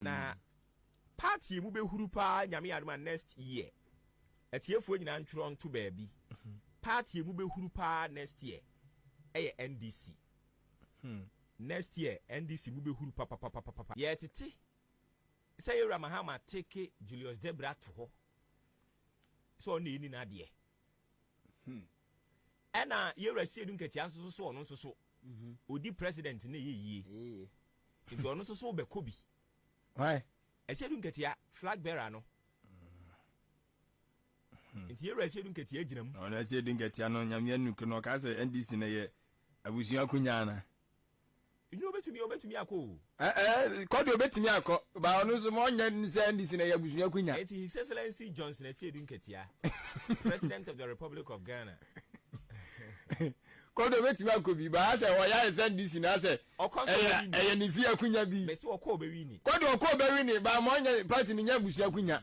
Na part yi mu bɛhuru paa nyame yɛ adom a next year. Atiefoɔ nyinaa ntwerɛ nto baabi. Mhm. Part yi mu bɛhuru paa next year ɛyɛ NDC. Hmm. Next year NDC mu bɛhuru papapapapa. Yɛtete sɛ yɛwura Mahama teke Julius Debra to hɔ sɛ ɔne ɛni n'adeɛ. Hmm. Ɛna yɛwura siedu nkatia nso so so ɔno nso so odi president ne yɛ yie nti ɔno nso so wobɛkɔ bi asiedu nkatia flag bearer no hmm. nti yɛwura asiedu nkatia gyina mu ɔno asiedu nkatia no nyameɛ nuke no ɔka sɛ ndc no yɛ abusua akonya na Nyo obetumi obetumi akɔ o. Ɛɛ ɛɛ kɔ deɛ obetumi akɔ ba ɔno nso ma ɔnyɛ ne sɛ NDC na ɛyɛ abusua akunya. Enti His Excellency Johnson Asiedu Nketia, President of the Republic of Ghana. Kɔ deɛ obetumi akɔ bi ba asɛ ɔyɛ ayɛ sɛ NDC na asɛ ɛyɛ ɛyɛ ne fie akunya bi. Mesi ɔkɔ obewini. Kɔ deɛ ɔkɔ obewini ba ma ɔnyɛ party no nyɛ abusua akunya.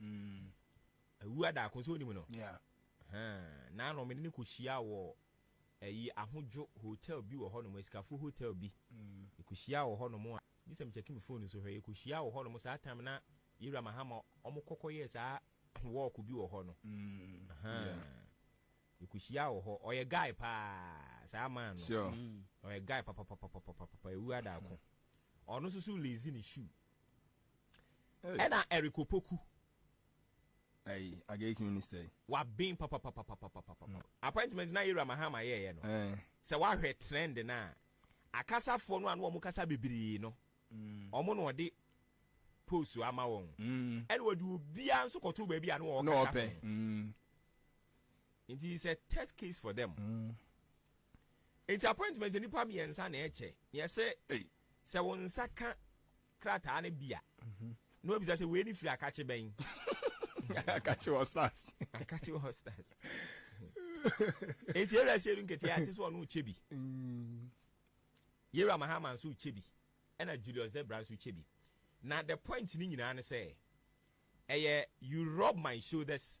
Mm. Awu adaako nso onim no. Yeah. Huh. Na no mede ne kɔ hyia wɔ ɛyi eh, ahodwo hotel bi wɔ hɔ nom esikafoɔ hotel bi. Mm. Ekɔ hyia wɔ hɔ nom a gye sɛ me check me phone nso hwɛ ekɔ hyia wɔ hɔ nom saa time na yɛwura mahama ɔmo kɔkɔ yɛ saa walk bi wɔ hɔ no. Mm. Huh. Yeah. Ekɔ hyia wɔ hɔ ɔyɛ guy paa saa man no. Sure. Mm. Ɔyɛ guy papapapapapapa ewu adaako. Ɔno nso so lazy ne shoe. Ɛna Eric Opoku. Ayi, Agaic minister yi. Waben papapapapapapapa. Mm. Appointment na Ira Mahama yɛɛyɛ no. Eh. Sɛ wahwɛ trend no a, akasafoɔ no a na wɔn kasa bebree no, mm. wɔn na wɔde post ama wɔn. Mm. Ɛna wɔde obiara nso kɔto baabi a na wɔn kasa ho. Mm. Nti it's a test case for them. Mm. Nti appointment nipa mmiɛnsa na ɛkyɛ. Yɛsɛ Sɛ wo nsa ka krataa no bi a, na wabisa sɛ wei ne firi akakye bɛn? akakye hostas. akakye hostas. Eti yɛwura hyɛ du nketewa ase sɛ ɔno kyɛ bi. Mm. Yɛwura Mahama nso kyɛ bi. Ɛna Julius Debra nso kyɛ bi. Na the point ni nyinaa ne sɛ ɛyɛ you rub my shoulders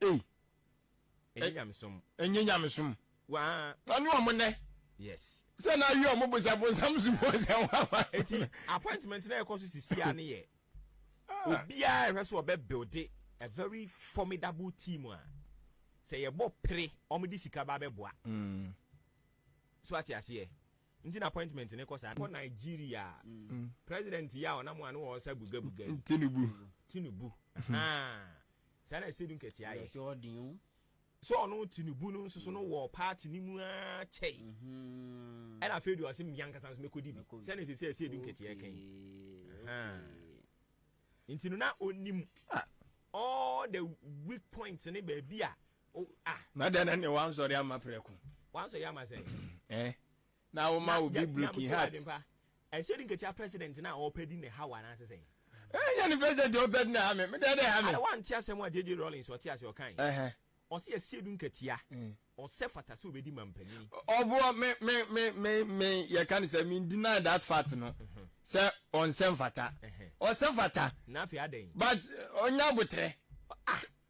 Ei! Ɛnyɛ nyamesom. Ɛnyɛ nyamesom. Waa. Ɔne ɔmo nɛ. Yes. Sɛ na awie ɔmo bo sɛ bonsam so mu sɛ wɔn ama. Eti appointment na ɛkɔ so sisi a ne yɛ. Ah. Obiara ɛhwɛ so ɔbɛ builde a very formidable team a sɛ yɛbɔ pere ɔmo de sika ba bɛboa. Mm. So ate aseɛ. Nti na appointment ne kɔ saa. Kɔ Nigeria a president yi a ɔnam a ne wɔ ɔsa buga buga yi. Tinubu. Tinubu ahaa saa na ɛsɛ du nkɛteɛ ayɛ. Yɛsɛ ɔden o. Sɛ ɔno Tinubu no nso so no wɔ party ne mu aa kyɛe ɛna afei deɛ ɔse mmea nkasa nso mɛkɔdi bi sɛ ne sɛ sɛ ɛsɛ du nkɛteɛ kan ahaa nti no na ɔnim all the weak points ne baabi a Oh, ah, mada na ne wansɔre ama prɛko. Wansɔre ama sɛ. Eh. Na wo ma wo bi broken heart. Ɛsɛ di nketia president na ɔpɛ di ne hawa na asesɛ. Eh, nya ne president ɔpɛ di na ha me. Me dɛ dɛ ha me. Ada wa ntia sɛ mo a JJ Rollins ɔte ase ɔkan. Eh eh. Ɔsi ɛsɛ du nketia. Mm. Ɔsɛ fata sɛ obedi mampanin. Ɔboɔ me me me me me yɛ kan sɛ me deny that fact no. Mm-hmm. Sɛ ɔnsɛ fata. Ɔsɛ fata. Na afei adɛn. But ɔnya botrɛ. Ah.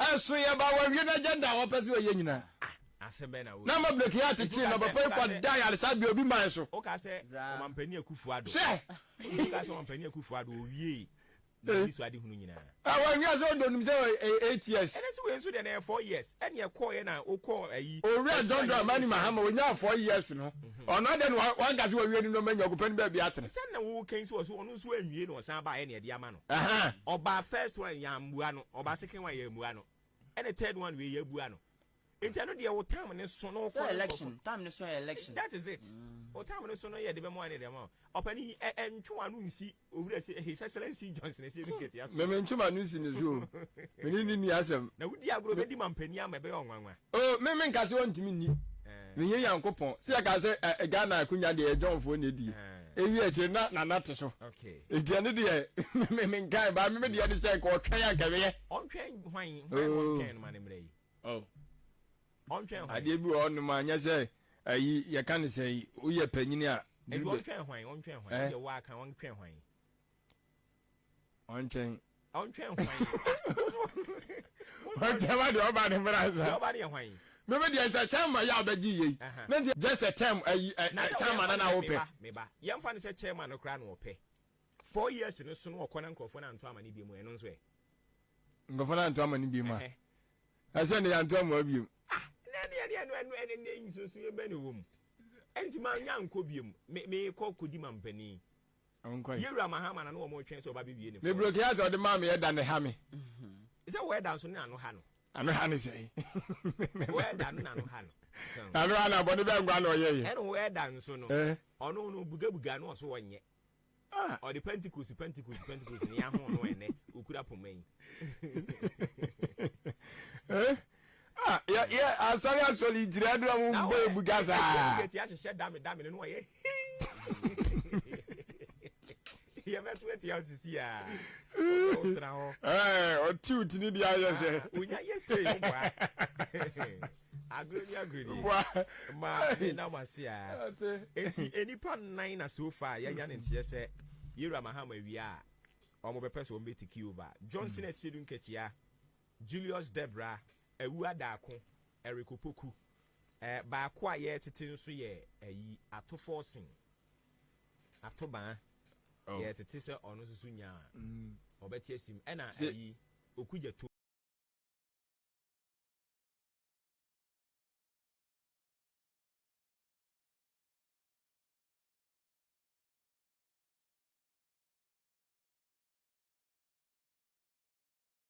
Ɛso yɛ ba wɔawie n'agenda a wɔpɛ sɛ wɔyɛ nyinaa. Na ama Blake yɛ atekyee na papa yi kɔ da ayaresabea obi man so. Woka sɛ ɔmampanin Akufo Addo. Hwɛ! Woka sɛ ɔmampanin Akufo Addo owie n'ani so adehunu nyinaa. A wɔnhwɛ sɛ ɔdɔ nim sɛ ɔyɛ eight years. Ɛnɛ sɛ wei nso deɛ na ɛyɛ four years ɛne ɛkɔɔyɛ na okɔɔ ayi. Owura John Dramani Mahama onyaa four years no ɔno adɛn na wanka sɛ wawie ne nneɛma anya ɔgopɛ no baabi atena. Sɛ na woka yi sɛ ɔso ɔno nso anwie na ɔsan baeɛ na ɛde ama no. Aha ɔbaa first one yɛn amua no ɔbaa second one yɛn amua no ɛna third one wei yɛn abua no nti ɛno deɛ wo time ne so na ɔkɔ election time ne so yɛ election that is it mm. o time ne so no yɛ de bɛ mo ane de ma ɔpɛni yi ɛ ɛ ntwe wano nsi owura si his excellence johnson esi ebi kete aso mɛmɛ ntwe wano nsi ne so mene ne ni asɛm na wodi agorɔ bɛ di ma mpɛni ama ɛbɛyɛ ɔnwanwa O me me nka sɛ ɔntumi nni eh. meyɛ nyankopɔn sɛ yɛka sɛ eh, eh, ghana akonya deɛ ɛgyɔnfoɔ na ɛdie ɛwie eh. akyire na nana te so ɛdua no deɛ menkae baa me medeɛ ne sɛ nka ɔtwɛn ankɛweyɛ adeɛ bi wɔ ɔnom a nyɛ sɛ ayi yɛka ne sɛ woyɛ panyini a ɛti ɔntwɛn hwan ɔntwɛn hwan ɛyɛ waa kan ɔntwɛn hwan ɔntwɛn ɔntwɛn hwan ɔntwɛn ma deɛ ɔba ne mmra nsa ɔba ne yɛ hwan meme deɛ sɛ chairman yɛ abɛgye yei na nti just a term ayi eh, eh, eh, chairman na na wopɛ meba yɛmfa no sɛ chairman no koraa na ɔpɛ four years no so no ɔkɔ na nkurɔfoɔ no anto ama no biom ɛno nso ɛ nkurɔfoɔ no anto ama no biom a ɛsɛ ne yɛanto ama biom ah na ɛne ɛne ɛno ɛno ɛne ne nsusu yɛ bɛ ne wɔ mu ɛnti ma nya nkɔ biom mekɔ kɔdi ma mpanin Ɔnkɔɛ. Yewura Mahama na ne wɔn retwɛn sɛ ɔba bɛ wie ne fɔɔm. Me broke heart a ɔde maa me ɛda na ɛha me. Sɛ wɔ ɛda nso ne ano ha no. Ano ha ne sɛn? Wɔ ɛda no na ano ha no. Ano ha na bɔne bɛn nkoa na ɔyɛ yɛ? Ɛna wɔ ɛda nso no. Ɔno no buga buga no ɔso ɔnyɛ. Ɔde Pentecost Pentecost Pentecost ne yɛ ahon no ɛnɛ ɔkura poma yi. Ah, yɛ yɛ asɔre asɔre ntiri adu a wɔn bɔ ebu gya saa. Ɛsɛ mu kɛtɛ ahyehyɛ dame dame no no ɔyɛ yɛ bɛ to ɛte awo sisi a ɔsɛ ɔsra hɔ. Ɛɛ ɔti oti ni di ayɛ sɛ. Onya yɛ se yɛ bɔ a agorɔ ni agorɔ ni bɔ a ma ne na ma se a eti enipa nan na so fa yɛ nya ne nteɛ sɛ yɛwura mahama wia a wɔn bɛ pɛ so wɔn bɛ ti kiova johnson ɛsɛ du nkɛtɛ a. Julius Debra, Awu Adaako, Eric Opoku. Ɛɛ, baako a yɛretete nso yɛ ayi, Ato Forson, Ato Baa. Oh. Yɛretete sɛ ɔno nso so nya a, ɔbɛte asim. Ɛna Sɛ- ayi, Oku Gyato.